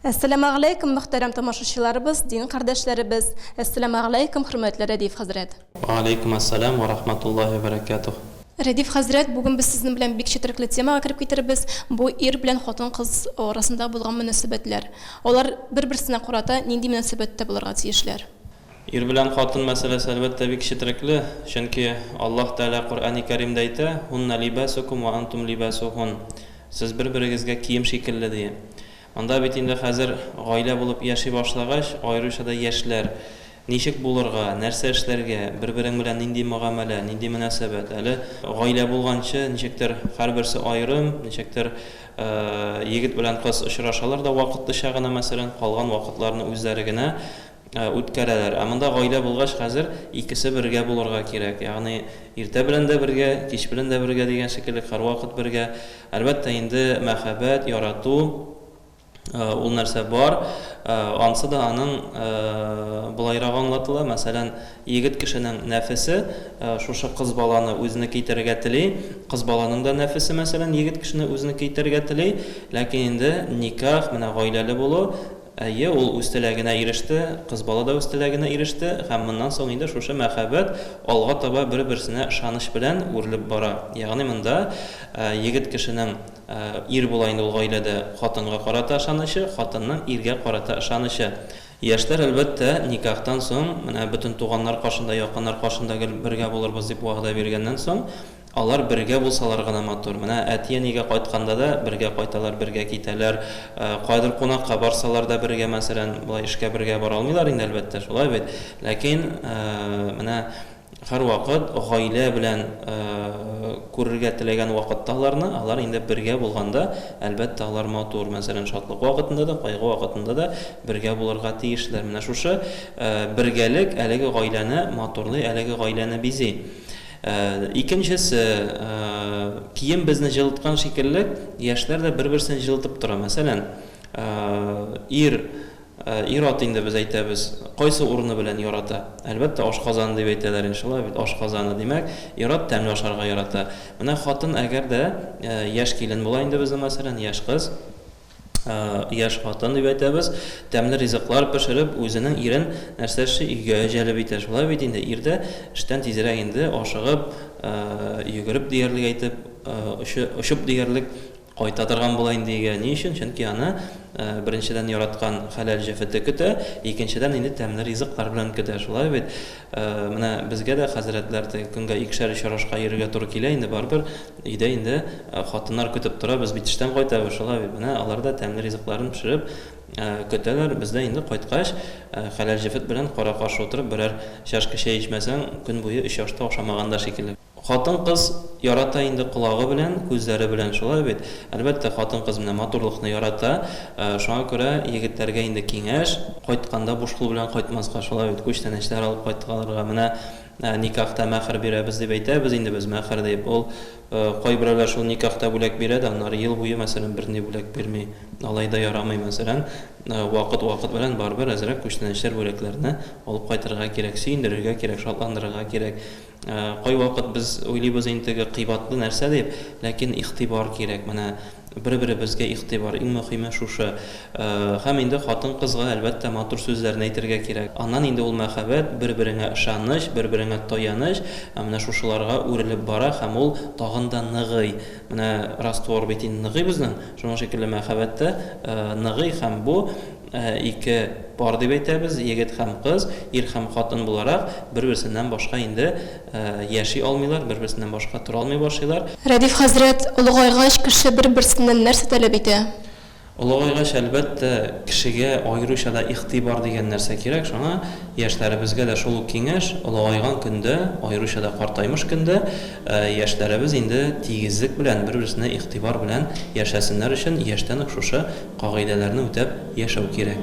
Әссәламәгъләйкүм, мөхтәрәм тамашачыларыбыз, дин кардәшләребез! Әссәламәгъләйкүм, хөрмәтле Рәдиф хәзрәт! Ва алейкум ассалам ва рахматуллаһи ва баракатуһ. Рәдиф хәзрәт, бүген без сезнең белән бик четерекле темага кереп китербез, бу ир белән хатын-кыз арасында булган мөнәсәбәтләр. Алар бер-берсенә карата нинди мөнәсәбәттә булырга тиешләр? Ир белән хатын мәсьәләсе, әлбәттә, бик четерекле, чөнки Аллаһ Тәгалә Коръәни Кәримдә әйтә, Һунна либәсүкүм вә антум либәсүһун, Сез бер-берегезгә кием шикелле, дия. Монда бит инде хәзер гаилә булып яши башлагач, аеруча да яшьләр, ничек булырга, нәрсә эшләргә, бер-берең белән нинди мөгамәлә, нинди мөнәсәбәт, әле гаилә булганчы ничектер һәрберсе аерым, ничектер егет белән кыз очрашалар да вакытлыча гына, мәсәлән, калган вакытларны үзләре генә Үткәрәләр. Ә монда гаилә булгач, хәзер икесе бергә булырга кирәк. Ягъни иртә белән дә бергә, кич белән дә бергә дигән шикелле, һәрвакыт бергә. Әлбәттә инде, мәхәббәт, ярату, ул нәрсә бар. Ансы да аның болайрак аңлатыла, мәсәлән, егет кешенең нәфесе шушы кыз баланы үзенеке итәргә тели, кыз баланың да нәфесе, мәсәлән, егет кешене үзенеке итәргә тели. Ләкин инде никах, менә гаиләле булу, Әйе, ул үз теләгенә иреште, кыз бала да үз теләгенә иреште һәм моннан соң инде шушы мәхәббәт алга таба бер-берсенә ышаныч белән үрелеп бара. Ягъни монда егет кешенең, ир була инде ул гаиләдә, хатынга карата ышанычы, хатынның иргә карата ышанычы. Яшьләр, әлбәттә, никахтан соң, менә бөтен туганнар каршында, якыннар каршында гел бергә булырбыз дип вәгъдә биргәннән соң, Алар бергә булсалар гына матур. Менә әти-әнигә кайтканда да бергә кайталар, бергә китәләр. Каядыр кунакка барсалар да бергә, мәсәлән, болай эшкә бергә бара алмыйлар инде, әлбәттә, шулай бит. Ләкин менә һәрвакыт гаилә белән күрергә теләгән вакытта аларны, алар инде бергә булганда, әлбәттә, алар матур. Мәсәлән, шатлык вакытында да, кайгы вакытында да бергә булырга тиешләр. Менә шушы бергәлек әлеге гаиләне матурлый, әлеге гаиләне бизи. Икенчесе, кием безне җылыткан шикелле, яшьләр дә бер-берсен җылытып тора. Мәсәлән, ир, ир-ат инде без әйтәбез, кайсы урыны белән ярата? Әлбәттә, ашказаны дип әйтәләр ин, шулай бит, ашказаны. Димәк, ир-ат тәмле ашарга ярата. Менә хатын, әгәр дә яшь килен була инде безнең, мәсәлән, яшь кыз, Яшь хатын дип әйтәбез. Тәмле ризыклар пешереп, үзенең ирен нәрсәче өйгә җәлеп итә. Шулай бит инде, ир дә эштән тизрәк инде, ашыгып, йөгереп диярлек әйтеп, очып диярлек кайта торган була инде өйгә. Ни өчен? Чөнки аны, беренчедән, яраткан хәләл җефете көтә, икенчедән, инде тәмле ризыклар белән көтә. Шулай бит? Менә безгә дә, хәзрәтләр, теге көнгә икешәр-өчәр ашка йөрергә туры килә инде, барыбер өйдә инде хатыннар көтеп тора, без бит эштән кайтабыз, шулай бит, менә алар да тәмле ризыкларын пешереп көтәләр, без дә инде кайткач, хәләл җефет белән кара-каршы утырып берәр чашка чәй эчмәсәң, көн буе өч ашта ашамаган да шикелле. Хатын-кыз ярата инде колагы белән, күзләре белән, шулай бит? Әлбәттә, хатын-кыз менә матурлыкны ярата. Шуңа күрә егетләргә инде киңәш, кайтканда буш кул белән кайтмаска, шулай бит, күчтәнәчләр алып кайтырга. Менә никахта мәхер бирәбез дип әйтәбез инде без, мәхер дип. Ул кайберәүләр шул никахта бүләк бирә дә, аннары ел буе, мәсәлән, берни бүләк бирми. Алай да ярамый, мәсәлән, вакыт-вакыт белән барыбер әзрәк күчтәнәчләр, бүләкләрне алып кайтырга кирәк, сөендерергә кирәк, шатландырырга кирәк. Кайвакыт без уйлыйбыз ин теге кыйбатлы нәрсә дип, ләкин игътибар кирәк, менә бер-беребезгә игътибар, иң мөхиме шушы. Һәм инде хатын-кызга, әлбәттә, матур сүзләрне әйтергә кирәк. Аннан инде ул мәхәббәт, бер-береңә ышаныч, бер-береңә таяныч, ә менә шушыларга үрелеп бара һәм ул тагын да ныгый. Менә раствор бит инде ныгый безнең, шуның шикелле мәхәббәт тә ныгый һәм бу, Ике пар дип әйтәбез, егет һәм кыз, ир һәм хатын буларак, бер-берсеннән башка инде яши алмыйлар, бер-берсеннән башка тора алмый башлыйлар. Рәдиф хәзрәт, олыгайгач, кеше бер-берсеннән нәрсә таләп итә? Олыгайгач, әлбәттә, кешегә аеруча да игътибар дигән нәрсә кирәк. Шуңа яшьләребезгә дә шул ук киңәш, олыгайган көндә, аеруча да картаймыш көндә яшьләребез инде тигезлек белән, бер-берсенә игътибар белән яшәсеннәр өчен, яшьтән үк шушы Кагыйдәләрне үтәп яшәү кирәк.